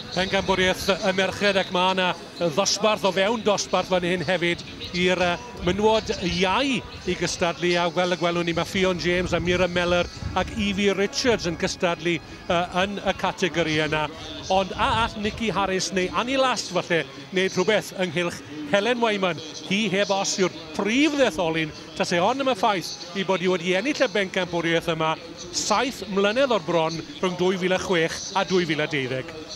Pencampwriaeth y merched ac mae yna ddosbarth o fewn dosbarth fan hyn hefyd i'r mynwod iau i gystadlu a fel y gwelwn ni mae Ffion James a Mira Meller ac Evie Richards yn cystadlu uh, yn y categori yna ond a all Nikki Harris neu Annie Last falle wneud rhywbeth ynghylch Helen Wyman hi heb os yw'r prif ddetholyn Tase hon am y ffaith ei bod hi wedi ennill y bencampwriaeth yma saith mlynedd o'r bron rhwng 2006 a 2012.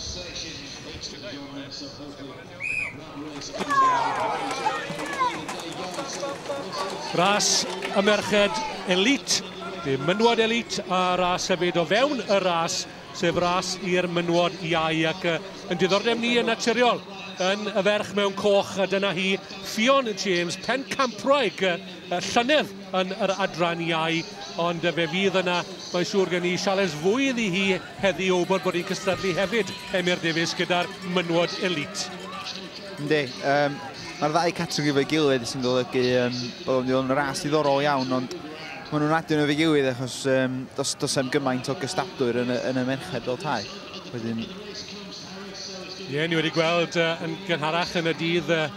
Ras y merched elît, dim mynwad elît, a ras hefyd o fewn y ras. sef ras i'r mynwod iau ac uh, yn diddordeb ni yn naturiol yn y ferch mewn coch a dyna hi Ffion James Pencampwraig uh, llynedd yn yr adran iau ond uh, fe fydd yna mae'n siŵr gen i siales fwy iddi hi heddi o wybod bod hi'n cystadlu hefyd Emyr Davies gyda'r mynwod elite. Ynddi, um, mae'r ddau categori fe gilydd sy'n golygu um, bod o'n ras ddiddorol iawn ond Maen nhw'n adio nhw efo'i gilydd achos um, dos, dos am gymaint o gystadwyr yn y, yn y merched fel tai. Wedyn... Ie, yeah, ni wedi gweld uh, yn gynharach yn y dydd uh,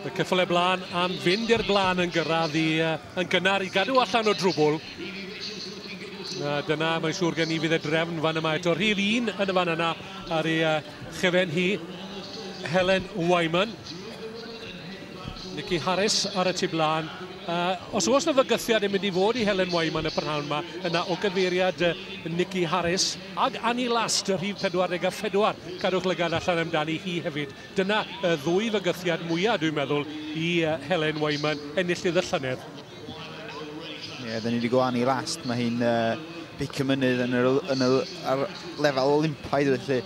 y cyffle blaen am fynd i'r blaen yn gyrraedd i, uh, yn gynnar i gadw allan o drwbl. Na, dyna, mae'n siŵr gen i fydd y drefn fan yma eto. Rhif un yn y fan yna ar ei uh, chyfen hi, Helen Wyman. Nicky Harris ar y tu blaen. Uh, os oes na fygythiad yn mynd i fod i Helen Wyman y prynhawn yma, yna o gyfeiriad uh, Nicky Harris ag Annie Last, y rhif 44, cadwch lygad allan amdani hi hefyd. Dyna y ddwy fygythiad mwyaf, dwi'n meddwl, i uh, Helen Wyman ennill i ddyllynedd. Ie, dyn ni wedi gwlanu i last. Mae hi'n uh, big y mynydd yn yr, yn yr, ar lefel olympaidd felly.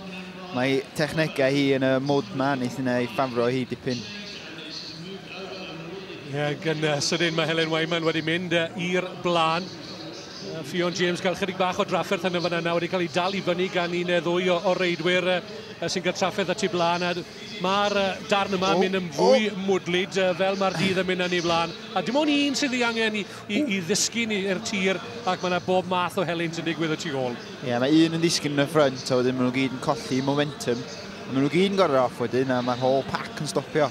Mae technegau hi yn y mod ma, nes yna ei ffafro hi dipyn. Ie, yeah, gan uh, sydyn mae Helen Wyman wedi mynd uh, i'r blaen. Uh, Ffion James gael chydig bach o drafferth yn y fan yna wedi cael ei dal i fyny gan un neu ddwy o, o reidwyr uh, sy'n cael trafferth at ei blaen. Mae'r uh, darn yma oh, mynd yn fwy oh. mwdlyd uh, fel mae'r dydd yn mynd yn ei flaen. A dim ond un sydd ei angen i, i, i ddisgyn i'r tir ac mae yna bob math o helynt yn digwydd y tu ôl. Ie, yeah, mae un yn ddisgyn yn y ffrynt a wedyn maen nhw gyd yn colli momentum. A maen nhw gyd yn gorau off wedyn a mae'r whole pack yn stopio.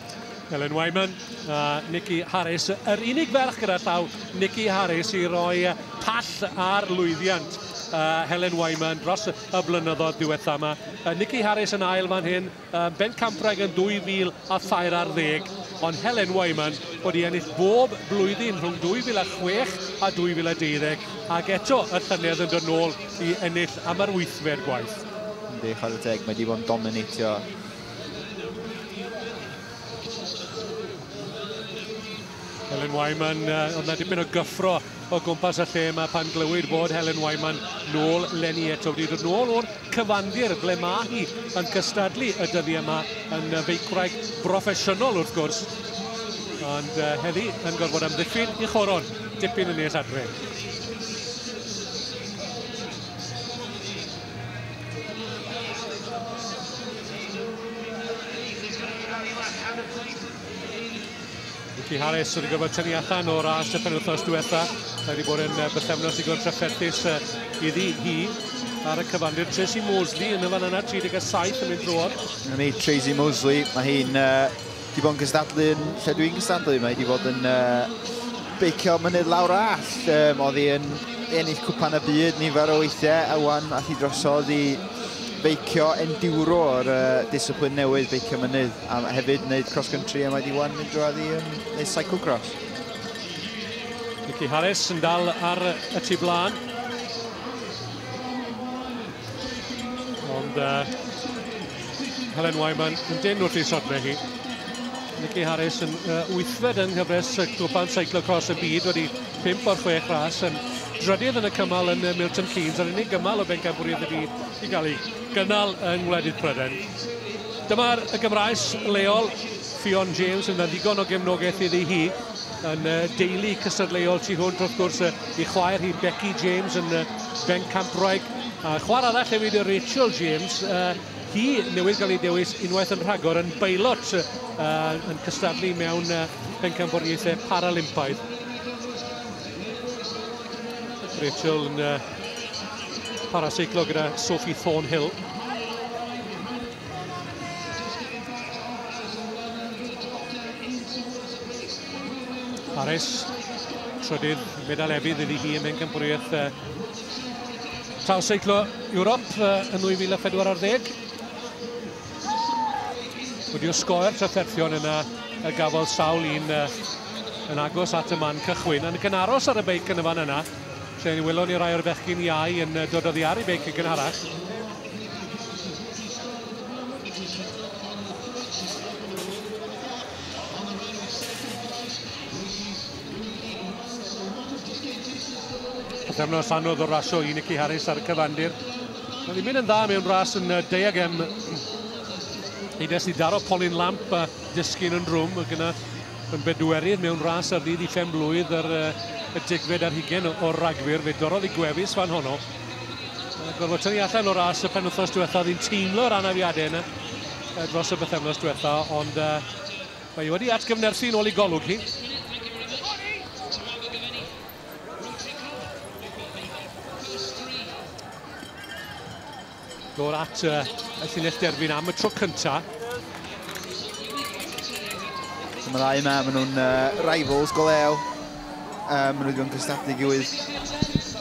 Ellen Wyman a Nikki Harris. Yr unig ferch gyda llaw Nikki Harris i roi pall ar lwyddiant uh, Helen Wyman dros y blynyddoedd diwetha yma. Uh, Nikki Harris yn ail fan hyn, Ym Mhencampwraig yn 2013, ar ddeg, ond Helen Wyman wedi ennill bob blwyddyn rhwng 2006 a 2012, ac eto y llynedd yn dod nôl i ennill am yr wythfed gwaith. Yndi, chwarae teg, mae wedi bod yn dominatio Helen Wyman, uh, oedd na dipyn o gyffro o gwmpas y lle yma pan glywyd bod Helen Wyman nôl lenni eto wedi dod nôl o'r cyfandir ble mae hi yn cystadlu y dyddi yma yn feicwraig broffesiynol wrth gwrs ond uh, heddi yn gorfod amddiffyn i choron dipyn yn nes adre. Rhici Harris wedi gorfod tynnu allan o'r ras y penwthnos diwetha. Mae wedi bod yn bythefnos digon trafferthus iddi hi ar y cyfandir. Tracy Mosley yn y fan yna, 37 yn mynd drwodd. Yn ei Tracy Mosley, mae hi'n uh, di bod yn gystadlu yn lle dwi'n gystadlu. Mae hi di bod yn uh, beicio mynydd lawr all. Um, oedd hi yn ennill cwpan y byd nifer o weithiau a wan a hi drosodd i feicio enduro o'r uh, disciplin newydd beicio mynydd. A hefyd wneud cross-country a mae di wan mynd drwy i um, neu cyclocross. Nicky Harris yn dal ar y tu blaen. Ond uh, Helen Wyman yn dyn wrth ei sodle hi. Nicky Harris yn uh, wythfed yng nghyfres y gwpan cyclocross y byd wedi 5 o'r 6 ras yn drydydd yn y cymal yn Milton Keynes a'r unig gymal o bencampwriaeth y byd i gael ei gynnal yng ngwledydd Prydain. Dyma'r y Gymraes leol, Ffion James, yn ddigon o gefnogaeth iddi hi yn y deulu cystadleuol tu hwnt wrth gwrs i chwaer hi Becky James yn Bencampwraig a chwaer arall hefyd y Rachel James hi newydd gael ei dewis unwaith yn rhagor yn bailot yn cystadlu mewn Bencampwriaethau Paralympaidd Rachel yn Paraseiclo gyda Sophie Thornhill. Harris, trydydd medal efydd iddi hi yn bencampwriaeth uh, Taw Seiclo Ewrop uh, yn 2014. Wedi o sgoer trafferthion yna y gafodd sawl un uh, yn agos at y man cychwyn. Yn y cynaros ar y beic yn y fan yna, Lle ni welon ni rai o'r fechgyn iau yn dod oddi ar ei beic yn gynharach. Pythefnos anodd o rasio i Nicky Harris ar y cyfandir. Mae ddim yn dda mewn ras yn diagem. Eides i daro Polyn Lamp a dysgu'n yn rwm gyda Yn bedwerydd mewn ras ar ddydd i phen-blwydd yr y degfed ar hugen o'r ragfyr. Fe dorrodd i gwefus fan honno. Gorfod tynnu allan o ras y penwthnos diwetha. Oedd hi'n teimlo'r anafiadau yna dros y bythefnos diwetha, ond uh, mae wedi atgyfnerthu'n ôl i golwg hi. Dod at y llinell derfyn am y tro cyntaf. Dyma ddau yma, maen nhw'n uh, rivals go lew. Um, maen nhw wedi bod yn cystadlu gilydd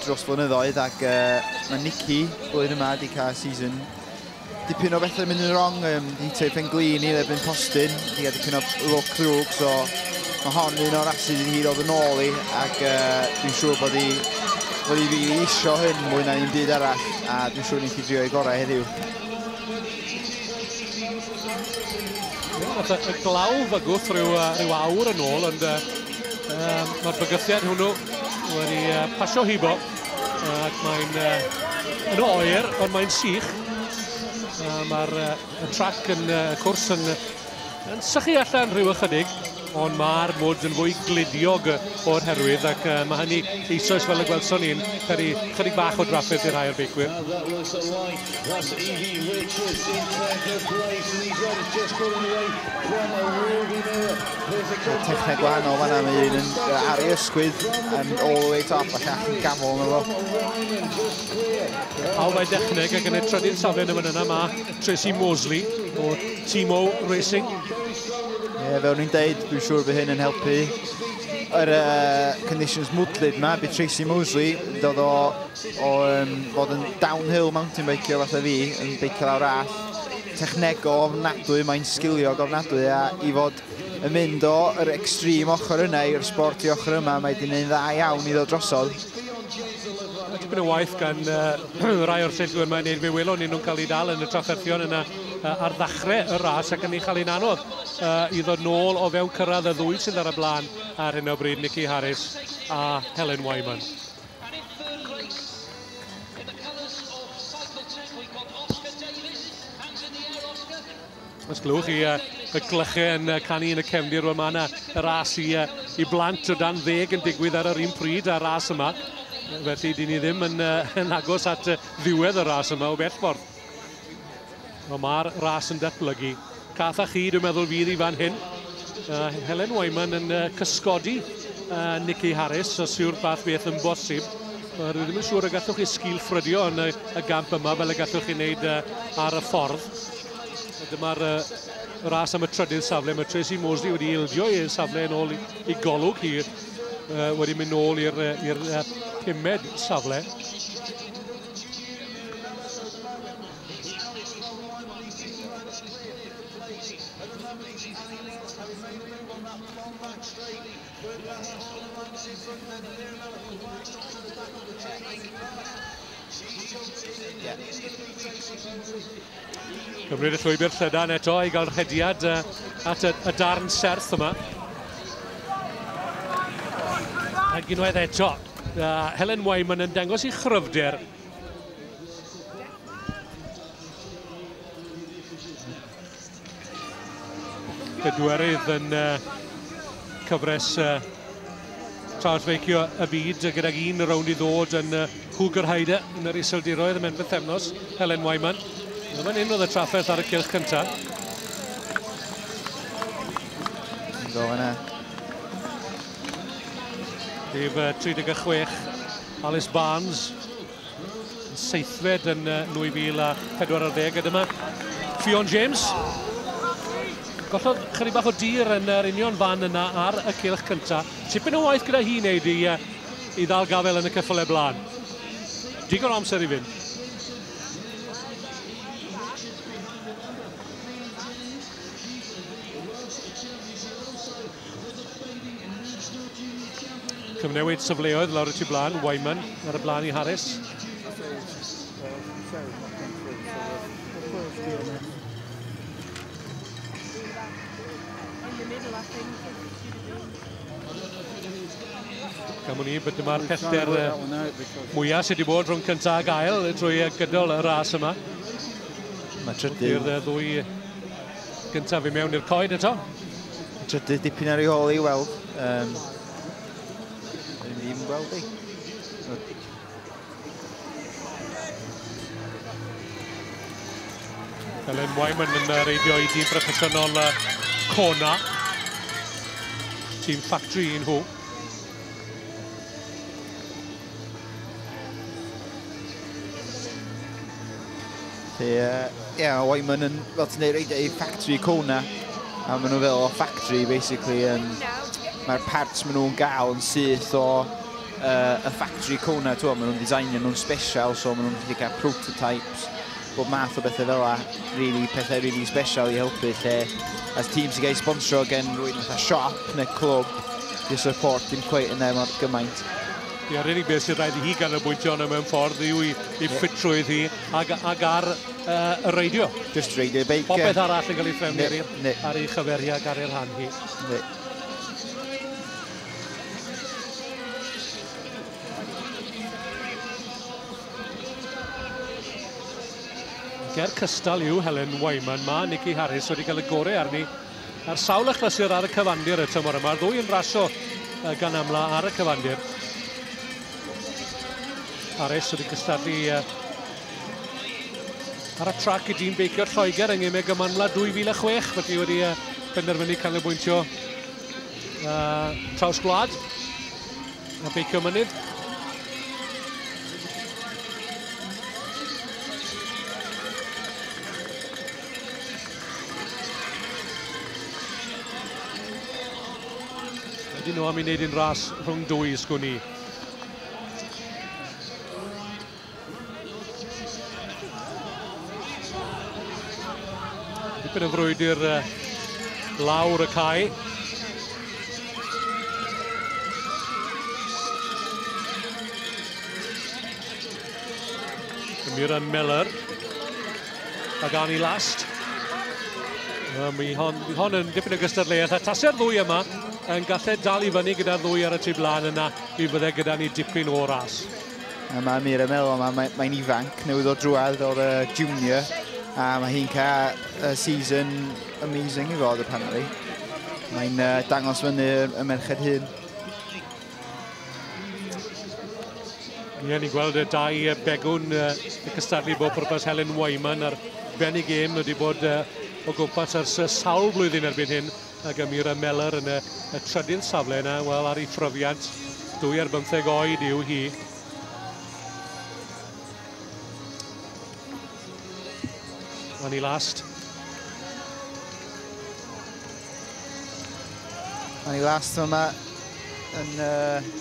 dros flynyddoedd ac uh, mae Nicky blwyddyn yma wedi cael season dipyn o bethau mynd yn wrong, um, di hitio i Penglin i ddebyn postyn, di gael dipyn o look ddrwg, so mae hon un o'r asid i hi ddod yn ôl i, ac uh, dwi'n siŵr bod hi, bod hi fi isio hyn mwy na un byd arall. A dwi'n siŵr ni'n cyd-drio ei gorau heddiw. Nath y glaw fygwth rhyw, rhyw awr yn ôl, ond uh, um, mae'r bygythiad hwnnw wedi uh, pasio hibo, ac mae'n uh, yn oer, ond mae'n sych. Uh, mae'r uh, trac yn uh, cwrs yn, yn sychu allan rhyw ychydig. ond mae'r mwd yn fwy gludiog o'r herwydd ac uh, mae hynny eisoes fel y gwelson ni'n peri chydig bach o drafferth i'r rhai o'r beicwyr. Mae techneg gwahanol fanna, mae un yn ar ei ysgwydd yn all the way top a llall yn gamol yna fo. Pawb mae dechneg ac yn ei trydydd safle yn y fan yna mae Tracy Mosley o Timo Racing Ie, fel ni'n deud, dwi'n siŵr bod hyn yn helpu yr uh, conditions mwdlyd yma, bydd Tracy Mosley, dod o, o um, fod yn downhill mountain bike o fatha fi, yn beicio lawr all, technego ofnadwy, mae'n sgilio ofnadwy, a i fod yn mynd o yr extreme ochr yna i'r sport i ochr yma, mae di'n ei dda iawn i ddod drosodd. Tipyn o waith gan uh, rai o'r seithwyr mae'n ei fe welon ni nhw'n cael ei dal yn y trafferthion yna uh, ar ddachrau y ras ac yn ei chael ein anodd uh, i ddod nôl o fewn cyrraedd y ddwy sydd ar y blaen ar hyn o bryd, Nicky Harris a Helen Wyman. Os glywch chi uh, y glychau yn uh, canu yn y cefndir, wel mae yna y ras i, uh, i blant o dan ddeg yn digwydd ar yr un pryd a'r ras yma. Felly, dyn ni ddim yn, uh, yn agos at uh, ddiwedd y ras yma o bell ffordd. Wel, mae'r ras yn datblygu. Cath a chi, dwi'n meddwl, fydd i fan hyn. Uh, Helen Wyman yn uh, cysgodi uh, Nicky Harris, os yw'r fath beth yn bosib. Uh, rwy ddim yn siŵr y gallwch chi sgil ffrydio yn y, y gamp yma fel y gallwch chi wneud uh, ar y ffordd. Dyma'r uh, ras am y trydydd safle. Mae Tracy Mosley wedi ildio i'r safle yn ôl i, i golwg hi uh, wedi mynd nôl i'r uh, pumed safle. Cymryd y llwybr llydan eto i gael rhediad at y, y darn serth yma. Ac unwaith eto, uh, Helen Wyman yn dangos i chryfder Pedwerydd yn uh, cyfres uh, traw's feicio y byd gydag un rownd i ddod yn uh, Cougar Hyder yn yr iseldiroedd y menbydd thefnos, Helen Wyman. Yn fan hyn oedd y trafferth ar y cylch cyntaf. Go yna. Rhif 36, Alice Barnes, yn seithfed yn 2014. A dyma Ffion James. Gollodd chyri bach o dir yn yr union fan yna ar y cilch cyntaf. Tipyn o waith gyda hi wneud i, i ddal gafel yn y cyffyle blaen. Digon o amser i fynd. Cyfnewid safleoedd lawr y tu blaen, Wyman ar y blaen i Harris. Gam ni, bod dyma'r pellter mwyaf sydd wedi bod rhwng cyntaf ag ail trwy gydol y ras yma. Mae trydydd... I'r ddwy gyntaf i mewn i'r coed eto. Trydydd dipyn ar ei hôl i weld. Um, Dwi'n ddim gweld ei. Elen Wyman yn reidio i dîm proffesiynol Kona. Tîm Factory un hw. Ie, yeah, o'i maen nhw'n, fel ti'n ei reid ei factory cona, a maen nhw fel o factory, basically. Um, Mae'r parts maen nhw'n gael yn syth o uh, y factory cona, ti'n maen nhw'n designio nhw'n special, so maen nhw'n gallu cael prototypes, bob math o bethau fel yna, really, pethau really special i helpu lle as tîm sy'n cael ei sponsro gen rwy'n fatha siop neu clwb i'r support dim cweith yna mor gymaint. Ie, yeah, really beth sy'n rhaid i hi ganolbwyntio yna mewn ffordd yw i, i ffitrwydd hi ag, ag ar uh, y reidio. Just reidio beic. Popeth arall yn cael ei threfnu ar ei chyferi ag ar ei rhan hi. Ne. Ger cystal yw Helen Wyman. Mae Nikki Harris wedi cael y gorau arni ar sawl achlysur ar y cyfandir y tymor yma. Ddwy yn rasio gan amla ar y cyfandir. Harris wedi cystadlu ar y trac i dîm beicio'r Lloegr yng Ngymeg y Manwla 2006. Felly wedi penderfynu canolbwyntio traws gwlad. A beicio mynydd. Ydyn nhw am i wneud un ras rhwng dwy sgwn i. Dipyn o frwydr lawr y cae. Muran Miller. Pagani last. Um, mi hon, mi hon yn dipyn o gystadleuaeth a tasau'r ddwy yma yn gallu dal i fyny gyda'r ddwy ar y tu blaen yna, mi fydde gyda ni dipyn o ras. A mae Mira yn meddwl, mae'n mae, mae ifanc, newydd o drwad o'r uh, junior, a mae hi'n cael uh, season amazing i fod, apparently. Mae'n uh, dangos fyny y merched hyn. Ie, ni'n gweld y dau begwn uh, y cystadlu bob pwrpas Helen Wyman a'r Benny Game wedi bod uh, o gwmpas ers sawl blwyddyn erbyn hyn. a Gemira Meller yn y, y trydydd safle yna, wel ar ei phrofiant, dwy ar bymtheg oed yw hi. O'n i last. O'n i last yma yn... Uh,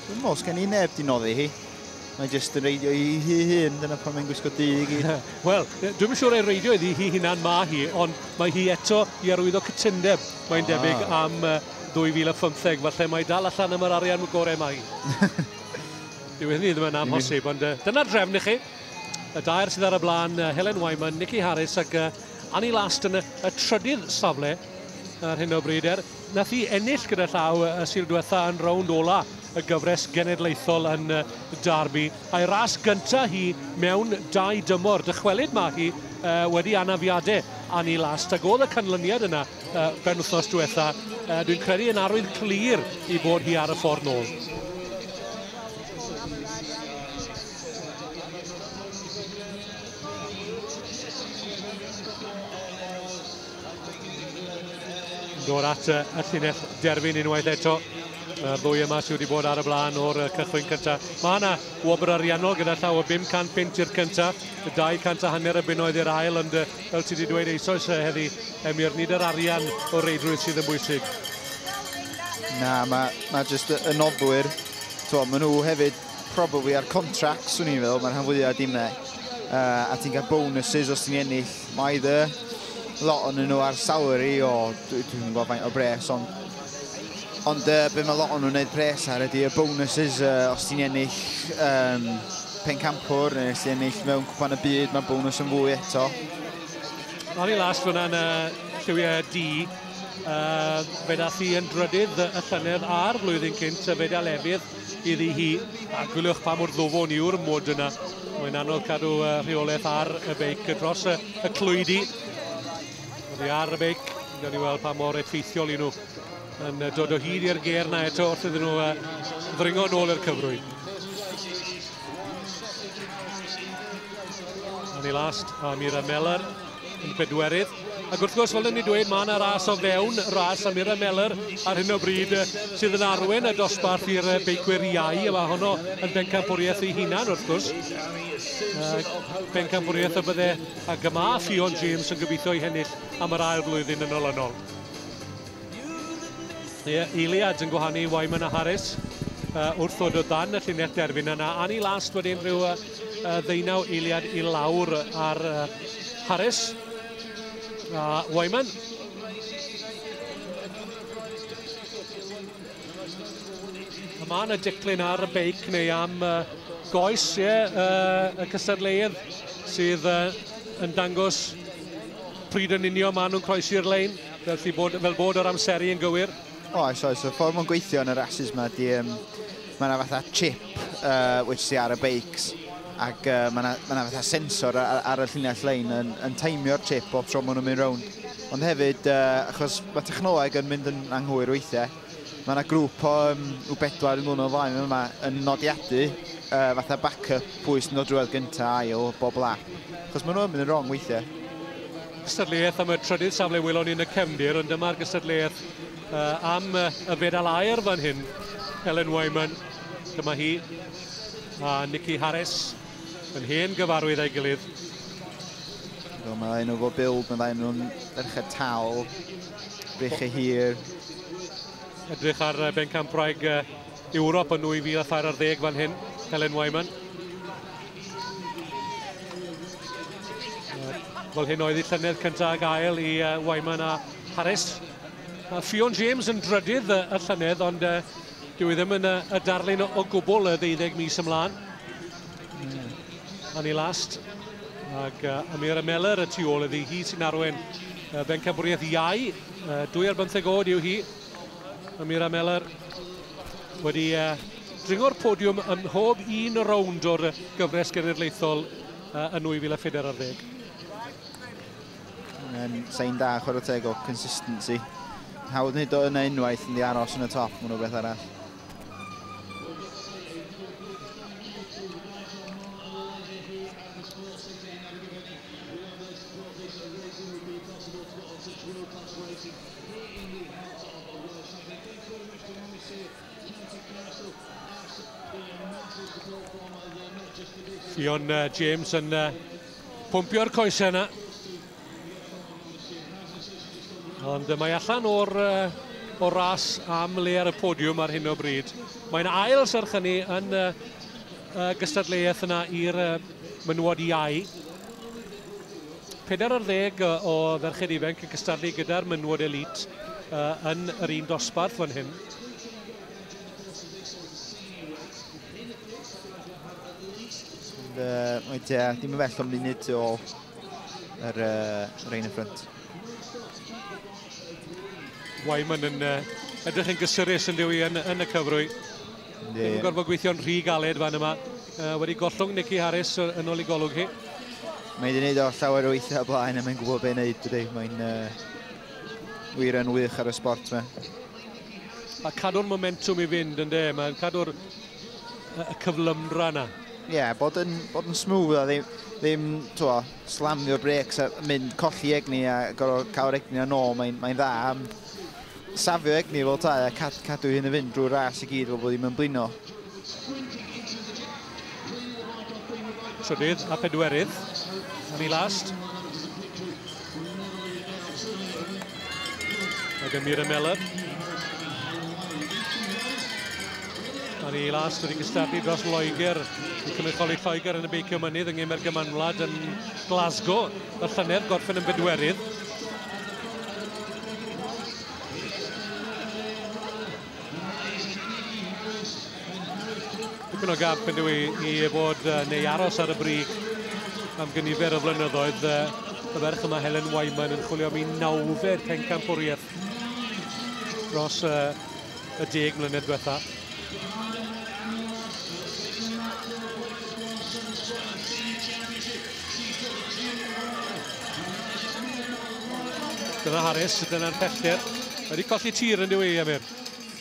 Dwi'n mwyn sgen i neb di noddi hi. Mae'n just yn reidio i hi hun, dyna pan mae'n gwisgo du i gyd. Wel, dwi'n siŵr ei reidio iddi hi hunan ma hi, ond mae hi eto i arwyddo cytundeb, mae'n ah. debyg, am 2015. Falle mae dal allan am yr arian y gorau mae. Dyw hynny ddim yn amhosib, ond uh, dyna drefn i chi. Y dair sydd ar y blaen, uh, Helen Wyman, Nicky Harris ac uh, Annie Last yn y, y trydydd safle ar hyn o bryd er. Nath hi ennill gyda llaw y Sul diwetha yn rownd ola y gyfres genedlaethol yn Derby, a'i ras gynta hi mewn dau dymor. Dychwelyd ma hi wedi anafiade Annie Last, ag oedd y canlyniad yna ben wythnos diwetha, dwi'n credu yn arwydd clir i bod hi ar y ffordd nôl. Nôl at y llinell derfyn unwaith eto. Mae'r ddwy yma sydd wedi bod ar y blaen o'r cychwyn cyntaf. Mae yna wobr ariannol gyda llaw o 500 punt i'r cyntaf, 200 a hanner y bunnoedd i'r ail, ond fel ti wedi dweud eisoes heddi, Emir, nid yr arian o reidrwydd sydd yn bwysig. Na, mae, mae jyst y noddwyr, to, maen nhw hefyd probably ar contracts, swn i'n feddwl, mae'r rhan fwyaf dimau, uh, a ti'n cael bonuses os ti'n ennill Mae dy lot o'n nhw ar salary o, dwi'n dwi gwybod faint o bres, ond Ond uh, be mae lot o'n nhw'n gwneud pres ar ydy y bonuses uh, os ti'n ennill um, pencampwr neu os ti'n ennill mewn cwpan y byd, mae bonus yn fwy eto. O'n i las fyna'n uh, lliwiau D, uh, fe dath i yn drydydd y llynedd a'r flwyddyn cynt y fe da lefydd iddi hi, a gwyliwch pa mor ddwfwn yw'r mwd yna. Mae'n anodd cadw uh, rheolaeth ar y beic dros y, y clwydi. Oddi ar y beic, gawn ni weld pa mor effeithiol i nhw yn dod o hyd i'r ger na eto wrth iddyn nhw uh, ddringo nôl i'r cyfrwy. Annie Last a Mira Meller yn bedwerydd. Ac wrth gwrs, fel yn ni dweud, mae yna ras o fewn ras am Ira Meller ar hyn o bryd sydd yn arwen y dosbarth i'r beicwyr iau. A mae honno yn bencampwriaeth ei hunan, wrth gwrs. Bencampwriaeth y bydde a gyma Ffion James yn gobeithio i hennill am yr ail flwyddyn yn olynol. Ie, Eiliad yn gwahanu Wyman a Harris uh, wrth ddod o dan y llinell derfyn yna. Annie Last wedyn rhyw uh, y ddeunaw eiliad i lawr ar Harris a Wyman. A mae yna diclyn ar y beic neu am goes, ie, yeah, uh, y cystadleuedd sydd uh, yn dangos pryd yn union maen nhw'n croesi'r lein, felly bod, fel bod yr amseru yn gywir. Oes, oes. Y ffordd mae'n gweithio yn y rhasys yma, di, um, mae yna fatha chip uh, which sy ar y beics ac uh, mae yna ma fatha sensor ar, ar y llinell lein yn, yn taimio'r chip o tro maen nhw'n mynd rownd. Ond hefyd, uh, achos mae technoleg yn mynd yn anghywir weithiau, mae yna grŵp o um, o bedwar yn o flaen yma yn nodiadu uh, fatha backup pwy sy'n dod drwedd gyntaf ail bob lap. Achos maen nhw'n mynd yn wrong weithiau. gystadleuaeth am y trydydd safle welon ni yn y cefndir, ond dyma'r gystadleuaeth uh, am y fedal aer fan hyn. Ellen Wyman, dyma hi, a Nicky Harris, yn hen gyfarwydd a'i gilydd. Do, mae ddau nhw fo build, mae ddau nhw'n ferched tal, breichau hir. Edrych ar bencampwraig Ewrop yn 2013 fan hyn, Ellen Wyman. Wel hyn oedd ei llynedd cyntaf ag ail i uh, Wyman a Harris. A Ffion James yn drydydd uh, y llynedd, ond uh, dyw i e ddim yn uh, y darlun o, o gwbl y ddeuddeg mis ymlaen. Mm. Annie Last ac uh, Amira Meller y tu ôl iddi. Hi sy'n arwen uh, Bencabwriaeth Iau. Uh, dwy ar bymtheg oed yw hi. Mae Mira Meller wedi uh, dringo'r podiwm ym mhob un rownd o'r gyfres genedlaethol uh, yn 2014 ar ddeg. Mae'n sain da chwarae teg o consistency. Hawdd nid o yna unwaith yn di aros yn y top, mae'n rhywbeth arall. Ble i ni hot of the world cycling in Cwm Western Moesey, County Castle as the massive support from uh, the not just the big Ffion uh, James yn uh, pwmpio'r coesau yna. Ond mae allan o'r uh, o ras am le ar y podiwm ar hyn o bryd. Mae'n ail serch hynny yn uh, uh, gystadleuaeth yna i'r uh, mynwad iau. Pedair ar ddeg o ferched ifanc yn cystadlu gyda'r menywod elît yn yr un dosbarth fan hyn. Mae Dea ddim yn bell o munud o yr rein y ffrynt. Wyman yn edrych yn gysurus yn dyw i yn y cyfrwy. Ddim yn gorfod gweithio'n rhy galed fan yma. Uh, wedi gollwng Nicky Harris yn ôl i golwg hi. Mae wedi gwneud o llawer o weithiau blaen a mae'n gwybod beth wneud dydy. Mae'n uh, wir yn wych ar y sport yma. A cadw'r momentum i fynd yn de, mae'n cadw'r y cyflymdra yna. Ie, yeah, bod yn, bod yn smooth a ddim, ddim twa, slamio'r breaks a mynd colli egni a gorfod cael egni yn ôl, mae'n mae dda am Safio egni fel tai a cad, cadw hyn yn fynd drwy'r ras i gyd fel bod ddim yn blino. Trydydd a phedwerydd yn ei last. Mae gen Mira Mellor. Ar ei last wedi cystadlu dros Loegr i cynrychioli Lloegr yn y beicio mynydd yng Ngemer Gymanwlad yn Glasgow y llynedd, gorffen yn bedwerydd. Dipyn o gamp yn dwi i fod neu aros ar y brig am gynifer o flynyddoedd. Y ferch yma, Helen Wyman, yn chwilio am ei nawfed pencampwriaeth dros y y deg mlynedd diwetha. Dyna Harris, dyna'r pellter. Mae wedi colli tir yn diwy, Amir.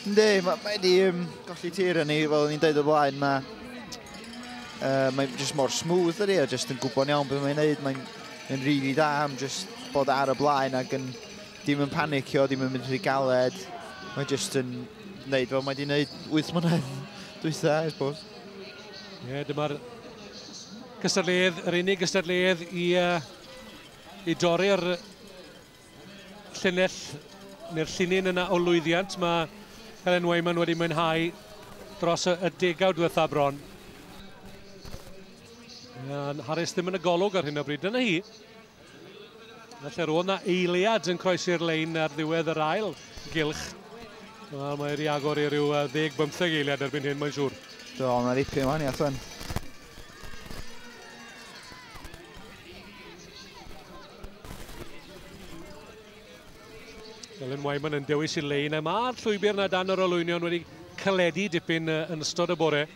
Ynddi, mae wedi um, colli tir yn ni, fel ni'n dweud o blaen, mae... Uh, mae'n just mor smooth ydy, a just yn gwybod iawn beth mae'n neud. Mae'n mae rili really da am just bod ar y blaen ac yn Dim yn panicio, dim yn mynd rhy galed. Mae jyst yn wneud fel mae wedi wneud 8 mlynedd dwytha, I suppose. Ie, yeah, dyma'r gystadleuedd, yr unig gystadleuedd i, uh, i dorri'r llinell neu'r llinyn yna o lwyddiant. Mae Helen Wayman wedi mwynhau dros y, y degawd dwytha bron. A'n Harris ddim yn y golwg ar hyn o bryd. Dyna hi, Felly roedd na eiliad yn croesi'r lein ar ddiwedd yr ail gylch. Wel, mae wedi agor i ryw 10-15 eiliad erbyn hyn, mae'n siŵr. Do, mae'n ripio yma ni allan. Elen Wyman yn dewis i lein. Mae'r llwybr na dan yr olwynion wedi caledu dipyn yn ystod y bore.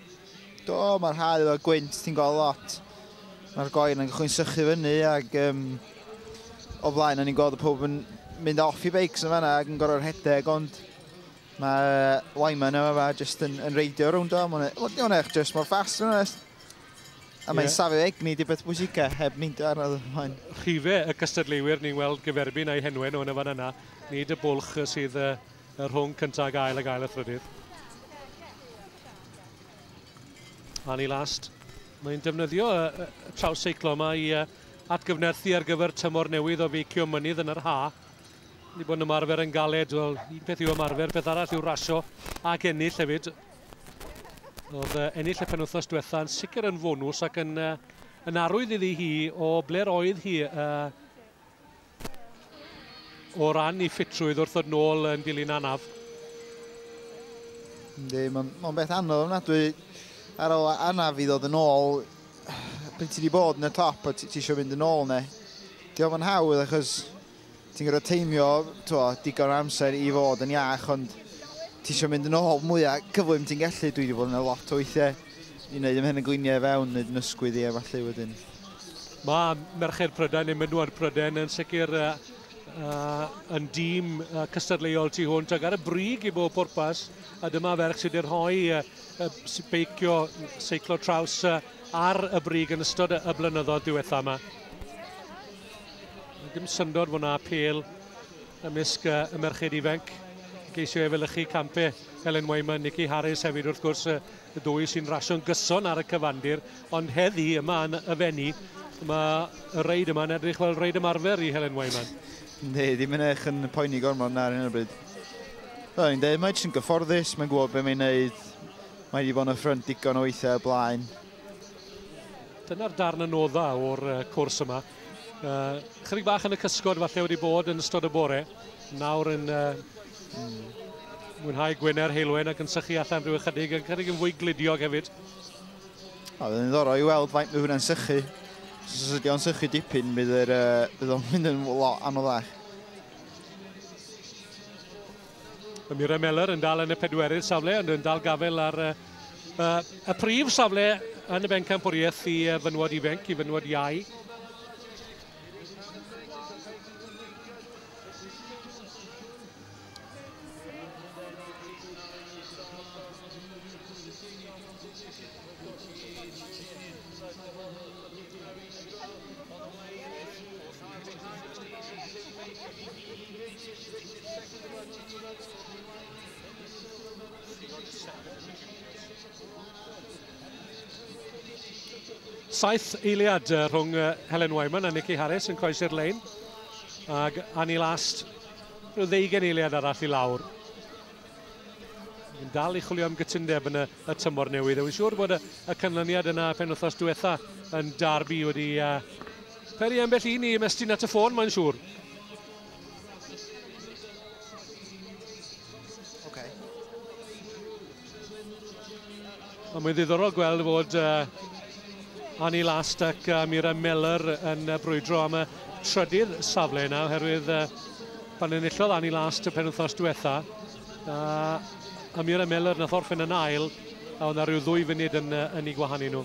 Do, mae'r hau fel gwynt, ti'n gweld lot. Mae'r goen yn gychwyn sychu fyny ac um, o flaen o'n i'n gweld y pob yn mynd off i beics yn fanna ac yn gorau rhedeg ond mae uh, Wyman yma fa jyst yn, yn reidio rownd o. Mae'n e- eich jyst mor ffast yn onest. A mae'n yeah. safio egni di beth bwysicau heb neidio arno ymlaen. Rhife y cystadleuwyr ni'n weld gyferbyn a'i henwen o'n y fan yna. Nid y bwlch sydd uh, y rhwng cyntaf ag ail ag ail a thrydydd. Annie Last, mae'n defnyddio y, y, y traws seiclo yma i uh, atgyfnerthu ar gyfer tymor newydd o feicio mynydd yn yr ha. Ni bod yn ymarfer yn galed, wel, un peth yw ymarfer, peth arall yw rasio ac ennill hefyd. Oedd uh, ennill y penwthnos diwetha yn sicr yn fonws ac yn, uh, yn arwydd iddi hi o ble'r oedd hi uh, O ran i ffitrwydd wrth ddod nôl yn dilyn anaf. Ynddi, mae'n ma beth anodd ofnadwy ar ôl anaf i ddod yn ôl. Pryd ti wedi bod yn y top a ti, ti eisiau mynd yn ôl neu. Di ofyn hawdd achos ti'n gorfod teimio twa, digon amser i fod yn iach ond ti eisiau mynd yn ôl mwyaf cyflym ti'n gallu. Dwi wedi bod yn y lot o weithiau i wneud ymhen y gliniau i fewn, wneud yn ysgwydd i e falle wedyn. Mae merched Prydain neu mynwad Prydain yn sicr uh, uh, yn dîm uh, cystadleuol tu hwnt ac ar y brig i bob pwrpas a dyma ferch sydd wedi rhoi uh, uh, beicio seiclo traws uh, ar y brig yn ystod y blynyddoedd diwetha yma. Dim syndod fod yna apel ymysg uh, y merched ifanc geisio efelychu campau Helen Wayman, Nicky Harris hefyd wrth gwrs, y dwy sy'n rasio'n gyson ar y cyfandir, ond heddi yma yn y fenni, mae y reid yma'n edrych fel reid ymarfer i Helen Wayman. Ne, ddim yn eich yn poeni gormod na ar hyn o bryd. Fel i'n dweud, mae jyst yn gyfforddus, mae'n gwybod beth mae'n wneud, mae wedi bod yn y ffrynt digon o weithiau y blaen. Dyna'r darn yn oda o'r cwrs yma. Uh, chydig bach yn y cysgod falle wedi bod yn ystod y bore. Nawr yn uh, mwynhau Gwener Heilwen ac yn sychu allan rhyw ychydig, yn chydig yn fwy glidiog hefyd. A fydd yn ddorau i weld faint mae hwnna'n sychu. Os ydy o'n sychu dipyn, bydd, er, uh, bydd o'n mynd yn lot anoddach. Mae Mira Meller yn dal yn y pedwerydd safle ond yn dal gafel ar uh, uh, y prif safle yn y bencampwriaeth i uh, fynwod ifenc, i fynwod iau. Saith eiliad rhwng Helen Wyman a Nikki Harris yn croesi'r lein. Ac Annie Last, rhyw ddeugen eiliad arall i lawr. Yn dal i chwilio am gytundeb yn y y tymor newydd. Wy'n siŵr bod y, y canlyniad yna penwthnos diwetha yn Derby wedi uh, peri ambell un i ymestyn at y ffôn, mae'n siŵr. Okay. Ond mae'n ddiddorol gweld fod uh, Annie Last ac uh, Mira Meller yn uh, brwydro am y trydydd safle yna, oherwydd uh, pan enillodd Annie Last y penwthnos diwetha, A Ymyr a Mellor nath orffen yn ail, a oedd na rhyw ddwy funud yn, uh, yn ei gwahanu nhw.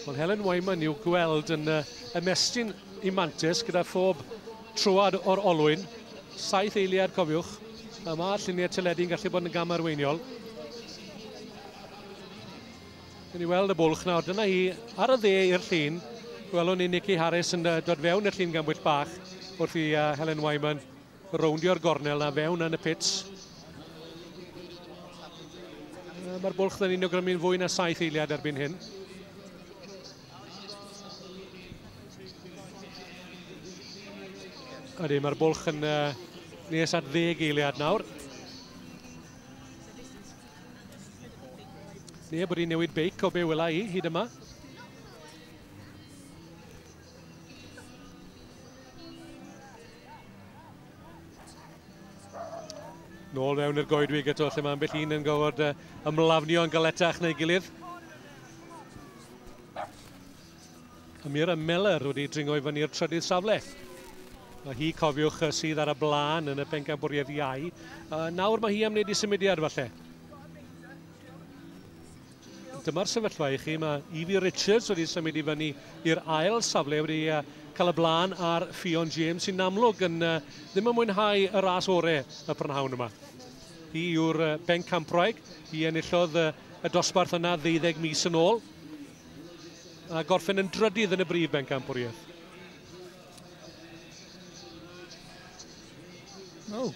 Wel, Helen Wyman i'w gweld yn uh, ymestyn i mantis gyda phob trwad o'r olwyn. Saith eiliad, cofiwch. A mae lluniau teledu'n gallu bod yn gam arweiniol. Dyn ni weld y bwlch nawr, dyna hi ar y dde i'r llun. Gwelwn ni Nicky Harris yn dod fewn i'r llun gambwyll bach wrth i uh, Helen Wyman rowndio'r gornel na fewn yn y pits. Mae'r bwlch dyn ni'n ogrymu'n fwy na saith eiliad erbyn hyn. Ydy, mae'r bwlch yn uh, nes at ddeg eiliad nawr. Neb wedi newid beic o be wela i hyd yma. Nôl mewn i'r goedwig eto lle mae ambell un yn gofod ymlafnio yn galetach neu gilydd. A Mira Meller wedi dringo i fyny'r trydydd safle. Mae hi, cofiwch, sydd ar y blaen yn y pencampwriaeth iau. Uh, nawr mae hi am wneud i symudiad falle. Dyma'r sefyllfa i chi, mae Evie Richards wedi symud i fyny i'r ail safle wedi uh, cael y blaen ar Ffion James sy'n amlwg yn uh, ddim yn mwynhau y ras ore y prynhawn yma. Hi yw'r uh, bencampwraig, hi enillodd uh, y dosbarth yna ddeuddeg mis yn ôl. a gorffen yn drydydd yn y brif bencampwriaeth. Oh.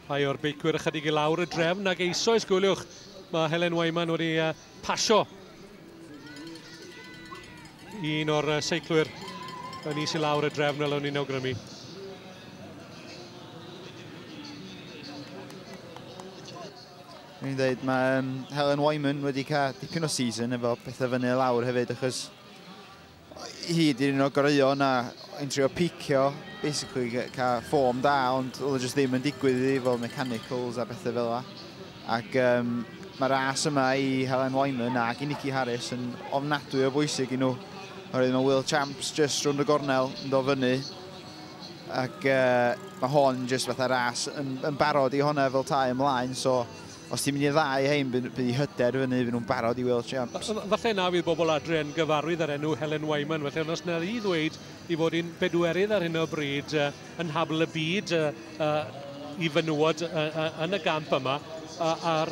Rhai o'r beicwyr ychydig i lawr y drefn ac eisoes gwyliwch. Mae Helen Wyman wedi uh, pasio un o'r uh, seiclwyr yn is i lawr y drefn fel o'n i'n awgrymu. Dwi'n dweud, mae um, Helen Wyman wedi cael dipyn o season efo pethau fyny lawr hefyd, achos hi di'r un o goreuo na yn trio picio, basically cael ffom da, ond oedd e jyst ddim yn digwydd iddi fel mechanicals a bethau fel yna. Ac um, mae ras yma i Helen Wyman ac i Nicky Harris yn ofnadwy o bwysig i nhw. Oherwydd mae Will Champs just rhwng y gornel yn dod fyny ac mae hon jyst fatha ras yn, yn barod i honna fel tai ymlaen, so os ti'n mynd i'r ddau hein, bydd i hyder fyny, fy nhw'n barod i Wales Champs. Falle na fydd bobl adre yn gyfarwydd â'r enw Helen Wyman, felly ond os na i ddweud i fod i'n bedwerydd ar hyn o bryd uh, yn habl y byd uh, uh, i fynwod uh, yn y gamp yma, a'r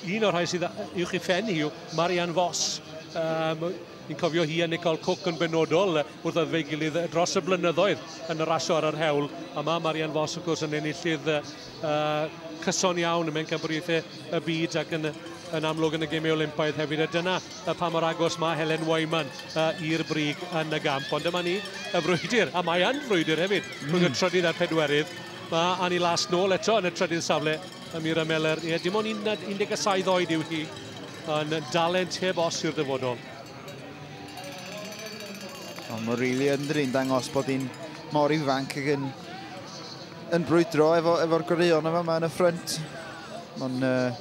un o'r rhai sydd uwch i ffen hi yw Marianne Foss, um, Ni'n cofio hi a Nicole Cooke yn benodol wrth ddod fe'i gilydd dros y blynyddoedd yn rasio ar yr hewl. A mae Marianne Vos, wrth gwrs, yn enillydd uh, cyson iawn mewn cambriaethau y byd ac yn, yn amlwg yn y gemau Olympaidd hefyd. A dyna uh, pa mor agos mae Helen Wyman uh, i'r brig yn y gamp. Ond dyma ni, y frwydr, a mae yn frwydr hefyd, rhwng mm. y trydydd a'r pedwerydd. Mae Annie Las nôl eto yn y trydydd safle Amira Meller, ie, dim ond 17 oed yw hi, yn dalent heb os i'r dyfodol. Ond mae rili yn drin dangos bod hi'n mor ifanc ac yn, yn brwydro efo'r efo, efo goreuon yma yma yn y ffrynt. Mae'n uh,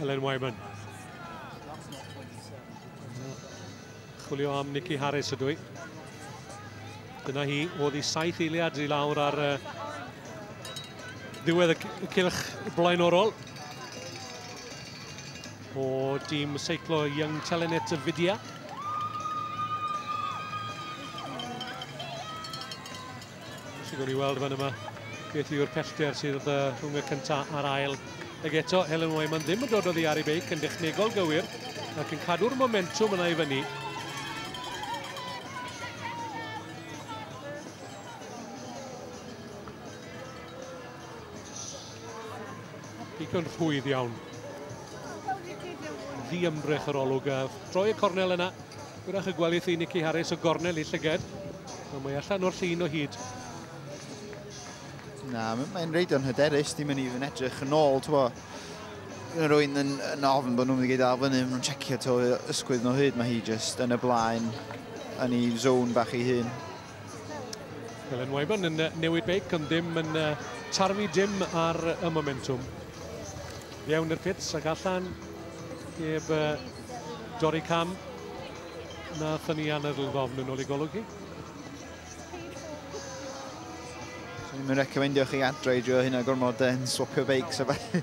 Elen Wyman. Chwilio am Nicky Harris ydw i. Dyna hi, oedd i saith eiliad i lawr ar uh, ddiwedd y cilch blaenorol. O dîm seiclo Young Telenet y Fidya. Sy'n gwneud i weld fan yma beth yw'r pellter sydd uh, rhwng y cyntaf a'r ail. Ag eto, Helen Wyman ddim yn dod o ddiar i beic yn dechnegol gywir ac yn cadw'r momentum yna i fyny. Digon rhwydd iawn. Ddi ymdrech yr olwg a troi y cornel yna. Gwyrach y gwelith i Nicky Harris o gornel i llyged. Ond mae allan o'r llun o hyd. Na, mae'n reid o'n hyderus, dim yn even edrych yn ôl, ti'n bo. Mae rwy'n yn, yn ofn bod nhw'n mynd i gael fyny, maen nhw'n checio to ysgwydd nhw hyd, mae hi just yn y blaen, yn ei zone bach ei hun. Helen Wyman yn newid beic ond ddim yn tarfu dim ar y momentum. Fiewn i'r pits ac allan heb dorri cam na thynnu anadl ddofn yn ôl i golwg hi. Dwi'n mynd recomendio chi adre i drio hynna gormod yn swapio beics a falle.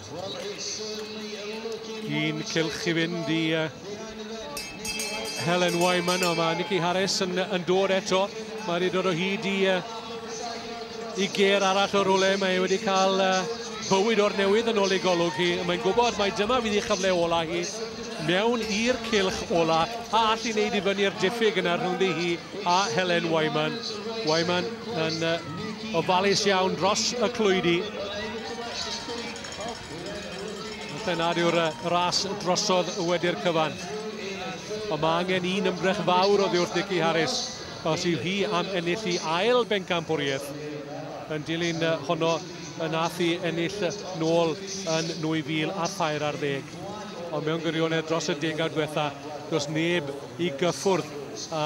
Cyn cylch i fynd i uh, Helen Wyman, o mae Nicky Harris yn, yn dod eto. Mae wedi dod o hyd i, uh, i ger arall o rwle. Mae wedi cael uh, bywyd o'r newydd yn ôl ei golwg hi. Mae'n gwybod mae dyma fydd ei chyfle ola hi mewn i'r cilch ola a allu wneud i fyny'r diffyg yna rhwngddi hi a Helen Wyman. Wyman yn uh, ofalus iawn dros y clwydi. Felly nad yw'r ras drosodd wedi'r cyfan. Ond mae angen un ymdrech fawr oddi wrth Nicky Harris os yw hi am ennill i ail bencampwriaeth yn dilyn honno yn ath i ennill nôl yn 2000 a thair ar ddeg. Ond mewn gwirionedd dros y degawd diwetha, does neb i gyffwrdd a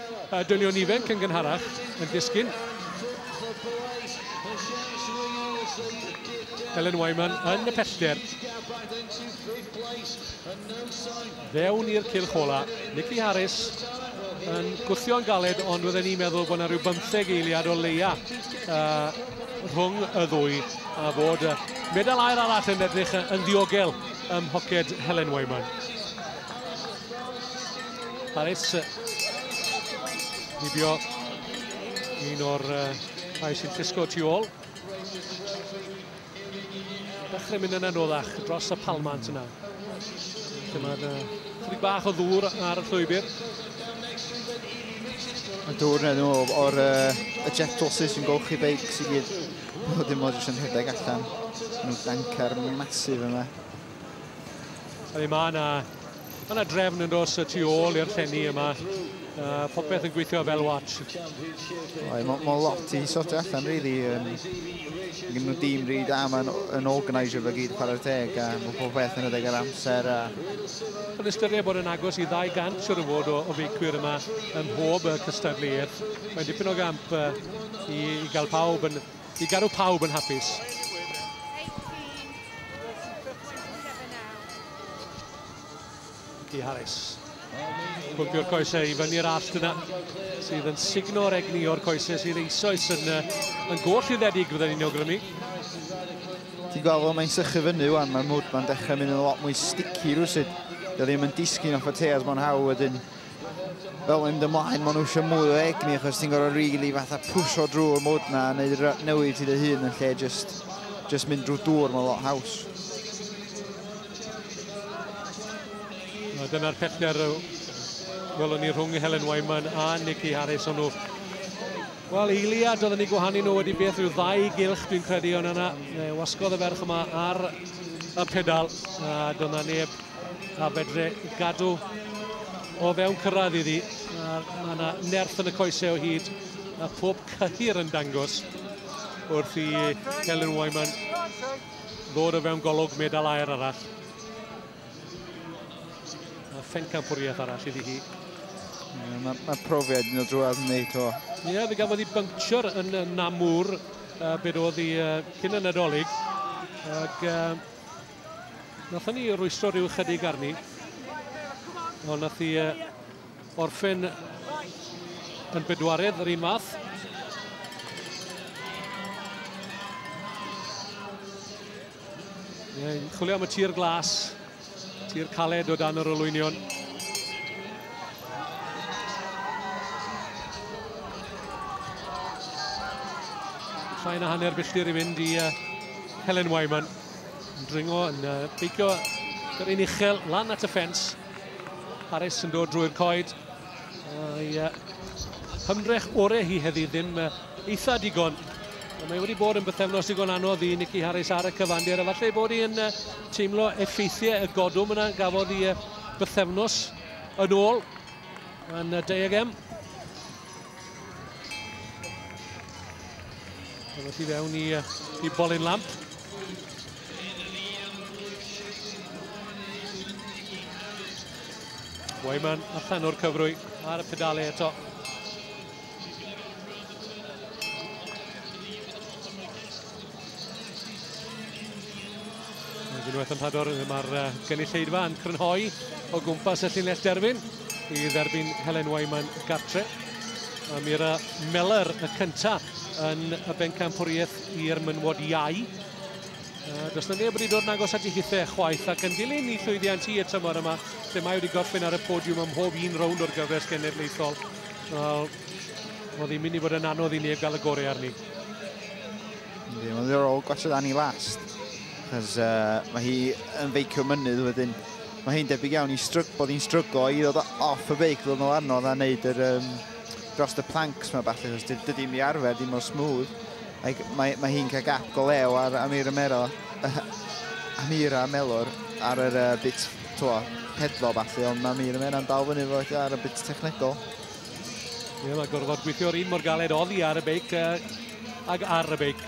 Y dynion ifanc yn gynharach yn disgyn. Elen Wyman yn y pellter. Fewn i'r cylch ola. Nicky Harris yn gwthio'n galed, ond wydden ni'n meddwl bod yna rhyw bymtheg eiliad o leia uh, rhwng y ddwy a bod uh, medal air arall yn edrych yn ddiogel ym mhoced Helen Wyman. Harris nibio un o'r rhai sy'n llusgo tu ôl. Dechrau mynd yn anoddach dros y palmant yna. Dyma'r chwyd bach o ddŵr ar y llwybr. Yn dŵr nhw o'r y jet doses yn golchi beic sy'n gyd. Nhw dim ond yn rhedeg allan. Nhw dancar masif yma. Felly mae yna Mae yna drefn yn dos y tu ôl i'r llenni yma. Uh, popeth yn gweithio fel watch. Mae mo lot i sort allan, really. Um, Gyn nhw dîm rhi da, mae'n yn organiser fe gyd chwarae'r teg, a mae pob beth yn edrych ar amser. A... Yn ystyried bod yn agos i 200 siwr o fod o, o feicwyr yma ym mhob cystadleuaeth. Mae'n dipyn o gamp uh, i, i gael pawb yn I gadw pawb yn hapus. Di Harris. Pwmpio'r coesau i fyny'r allt yna, sydd yn signo o'r egni o'r coesau sydd eisoes yn, yn goll rhyddedig fydden ni'n awgrymu. Ti'n gweld fo, mae'n sychu fyny wan, mae mwd ma'n dechrau mynd yn lot mwy sticky rhywsyd. Dwi ddim yn disgyn off y tears mo'n hawdd wedyn. fel mynd ymlaen, maen nhw eisiau mwy o egni, achos ti'n gorau rili really fatha pwysio drwy'r mwd na, a neud newid ti dy hun yn lle just, just mynd drwy dŵr, mae'n lot haws. A dyna'r pellter welwn ni rhwng Helen Wyman a Nikki Harris o'n nhw. Wel, eiliad oedden ni gwahanu nhw wedi beth rhyw ddau gylch, dwi'n credu, ond yna wasgodd y ferch yma ar y pedal, a dyna neb A fedre gadw o fewn cyrraedd iddi. Mae yna nerth yn y coesau o hyd a pob cyhyr yn dangos wrth i Helen Wyman ddod o fewn golwg medal aer arall. A phencampwriaeth arall iddi hi. Yeah, Mae ma profiad yn dod drwy'r wneud o. Ie, yeah, fe gafodd ei bynctio'r yn Namur, uh, beth oedd ei uh, cyn y Nadolig. Ac uh, Nathon ni rwystro rhyw chydig arni. Ond nath i uh, orffen yn bedwaredd yr un math. Yn chwilio am y tir glas, tir caled o dan yr olwynion. Rhain a hanner filltir i fynd i uh, Helen Wyman. Yn dringo, yn uh, beicio yr un uchel lan at y ffens. Harris yn dod drwy'r coed. A'i uh, hymdrech orau hi heddi ddim uh, eitha digon. Mae wedi bod yn bythefnos digon anodd i Nicky Harris ar y cyfandir. Efallai bod hi'n uh, teimlo effeithiau y godwm yna gafodd i uh, bythefnos yn ôl yn uh, Diagem. Dyna ti fewn i, i bolyn lamp. Wyman allan o'r cyfrwy ar y pedalau eto. Unwaith yn rhador, mae'r uh, gynulleidfa yn crynhoi o gwmpas y llinell derfyn i dderbyn Helen Wyman gartre. A mi era Meller y cyntaf yn y bencampwriaeth i'r mynwod iau. Uh, does na neb wedi dod yn agos at ei hithau chwaith ac yn dilyn i llwyddiant hi y tymor yma lle mae wedi gorffen ar y podiwm ym mhob un rownd o'r gyfres genedlaethol. Wel, oedd hi'n mynd i fod yn anodd i neb gael y gorau arni. Ddim yn ddiddorol gwachod Annie Last, cos uh, mae hi yn feicio mynydd wedyn. Mae hi'n debyg iawn i strug, bod hi'n stryglo i ddod off y beic, ddod yn anodd a wneud yr, um, dros y planks mae falle, cos dydy mi arfer ddim o smooth. Mae, mae, mae hi'n cael gap go lew ar Amira Melo, uh, Amira Melor ar yr uh, bit, twa, pedlo falle, ond mae Amira Melo'n dal fyny fo ar y bit technegol. Ie, mae gorfod gweithio'r un mor galed oddi ar y beic uh, ag ar y beic.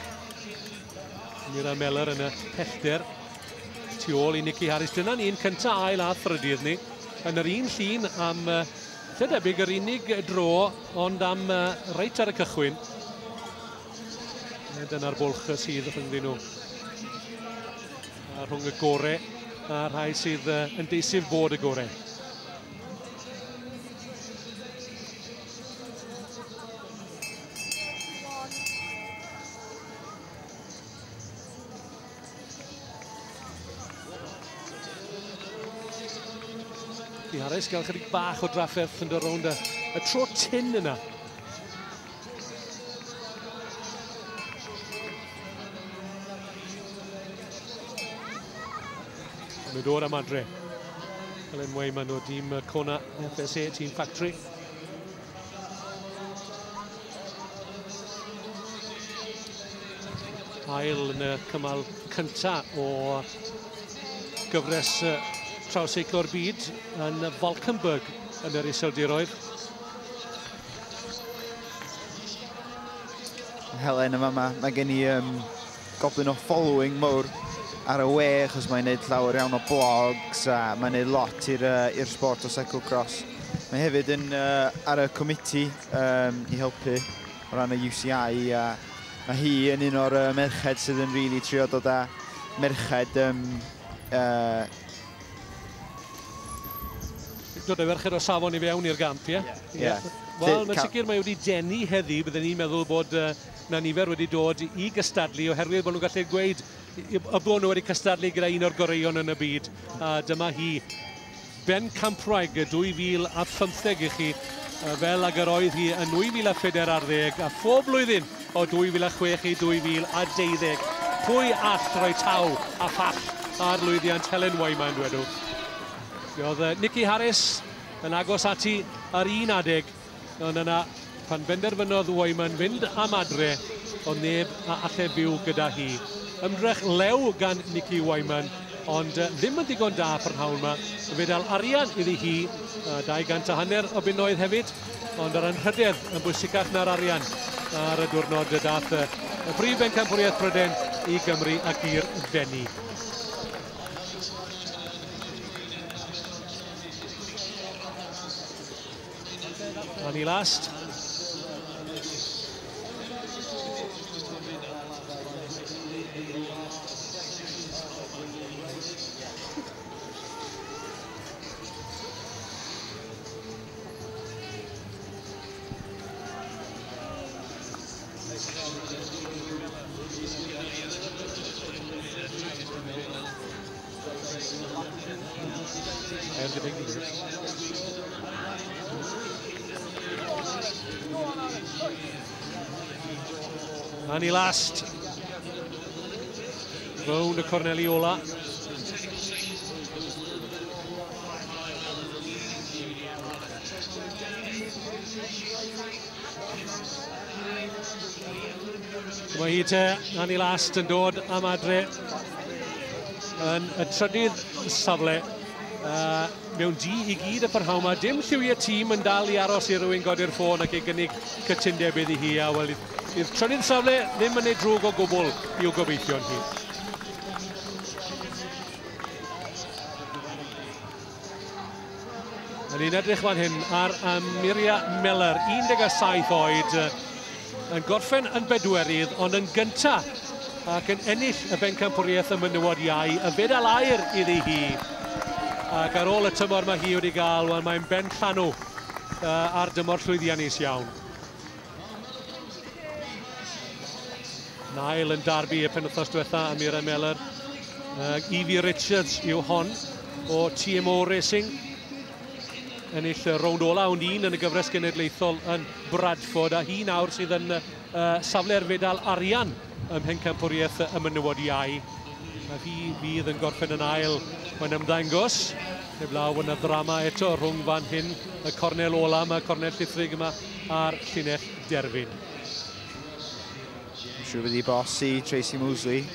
Mira Meller yn y pellter. Tu ôl i Nicky Harris. Dyna ni'n cynta ail a thrydydd ni. Yn yr un llun am uh, lle debyg yr unig dro ond am uh, reit ar y cychwyn. Dyna'r bwlch sydd rhyngddyn nhw. A rhwng y gore a rhai sydd uh, yn deisif bod y gore. Di Harris gael chydig bach o drafferth yn dod rownd y, y tro tin yna. Mae nhw dod am adre. Fel yn mwy, mae nhw dîm Kona FSA, tîm Factory. Hael yn y cymal cynta o gyfres trawseiclo'r byd yn Falkenberg yn yr iseldiroedd. Helen yn fama. Mae gen i um, goblin o following mowr ar y we, achos mae'n neud llawer iawn o blogs a mae'n neud lot i'r uh, sport o cyclocross. Mae hefyd yn uh, ar y comiti um, i helpu o ran y UCI a mae hi yn un o'r uh, merched sydd yn rili really trio dod â merched um, uh, Dod â ferched o safon i fewn i'r gamp, ie? Ie. Ie. Wel, mae'n sicr mae wedi denu heddi. Bydden ni'n meddwl bod uh, na nifer wedi dod i gystadlu oherwydd bod nhw'n gallu gweud y bod nhw wedi cystadlu gyda un o'r goreuon yn y byd. A dyma hi, Ben Campwraig 2015 i chi, fel ag yr oedd hi yn 2014 a phob blwyddyn O 2006 i 2012, pwy all roi taw a phall ar lwyddiant Helen Wyman, dwedwch? Mi oedd Nicky Harris yn agos ati ar un adeg, ond yna pan benderfynodd Wyman fynd am adre, oedd neb a allai fyw gyda hi. Ymdrech lew gan Nicky Wyman, ond ddim yn ddigon da prynhawn yma. Fedal arian iddi hi, a dau gant a hanner o bunnoedd hefyd. Ond yr anrhydedd yn bwysicach na'r arian ar y diwrnod y dath y brif bencampwriaeth Bryden i Gymru ac i'r Fenni. Annie Last. Annie Last. Rown y corneli ola. Mae hi te, Annie Last, yn dod am adre yn y trydydd safle. Uh, mewn di i gyd y parhau yma. Dim lliwiau tîm yn dal i aros i rywun godi'r ffôn ac ei gynnig cytundeb iddi hi. A wel, i'r trydydd safle ddim yn ei drwg o gwbl i'w gobeithio'n hi. Yn un edrych fan hyn ar Amiria Miller, 17 oed, yn gorffen yn bedwerydd, ond yn gynta ac yn ennill y bencampwriaeth y mynywod iau, y fedal air iddi hi. Ac ar ôl y tymor mae hi wedi gael, wel mae'n ben llanw uh, ar dymor llwyddiannus iawn. Nail yn darbu y penwthnos diwetha am Mira Meller. Uh, Evie Richards yw hon o TMO Racing. Ennill y rownd ola ond un yn y gyfres genedlaethol yn Bradford a hi nawr sydd yn uh, safle'r fedal arian ym Mhencampwriaeth y Menywod Iau. A hi fydd yn gorffen yn ail. Mae'n ymddangos. Heb law yn y ddrama eto rhwng fan hyn y cornel ola. Mae cornel llithrig yma a'r llinell derfyn. Siwr wedi bosi Tracy Mosley.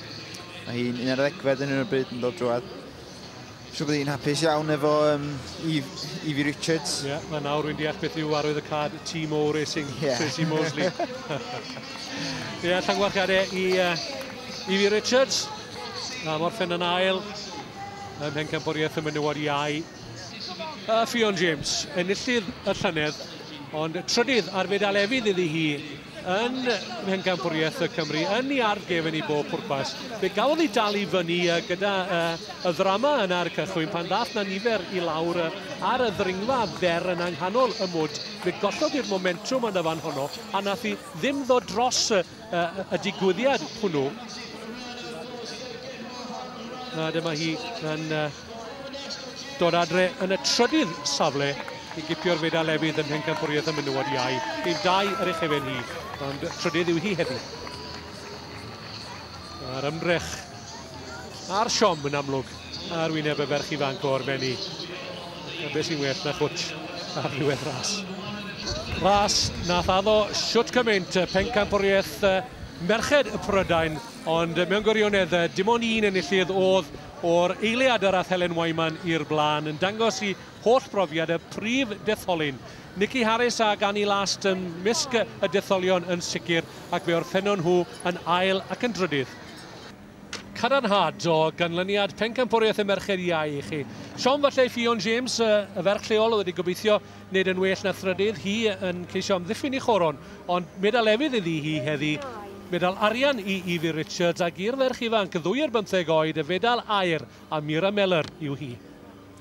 Mae hi'n un ar ddegfed yn un o'r bryd yn dod drwad. Siwr bod hi'n hapus iawn efo um, Evie Richards. Ie, yeah, mae nawr rwy'n deall beth yw arwydd y cad Timo Racing, yeah. Tracy Mosley. Ie, yeah, llangwarchiadau i uh, Evie Richards. A Morffen yn ail. Ym Mhencampwriaeth y Menywod Iau. A Ffion James, enillydd y llynedd, ond trydydd ar fedal efydd iddi hi yn Mhencampwriaeth y Cymru, yn ei ardd gefn i bob pwrpas. Fe gafodd ei dal i fyny gyda y ddrama yn ar y cychwyn pan ddath na nifer i lawr ar y ddringfa fer yn anghanol y mwd. Fe gollodd i'r momentum yn y fan honno a nath hi ddim ddod dros uh, y digwyddiad hwnnw. A dyma hi yn uh, dod adre yn y trydydd safle i gipio'r fedal efydd yn pencampwriaeth y menywod iau. Yn dau ar eich efen hi, ond trydydd yw hi heddiw. A'r ymdrech A'r siom yn amlwg ar wyneb y ferch ifanc o'r Fenni. A beth sy'n well na chwtch ar ddiwedd ras. Ras nath addo siwt cymaint pencampwriaeth merched y Prydain, ond mewn gwirionedd dim ond un enillydd oedd o'r eiliad yr ath Helen Wyman i'r blaen, yn dangos i holl brofiad y prif detholyn. Nikki Harris a Gani Last ym mysg y detholion yn sicr, ac fe orffennon nhw yn ail ac yn drydydd. Cadarnhad o ganlyniad Pencampwriaeth y Merched Iau i chi. Siom falle i Ffion James, y ferch lleol oedd wedi gobeithio nid yn well na thrydydd, hi yn ceisio amddiffyn ei choron, ond medal efydd iddi hi heddi, medal arian i Evie Richards ac i'r ferch ifanc, ddwy ar bymtheg oed, y fedal aur, a Mira Mellor yw hi.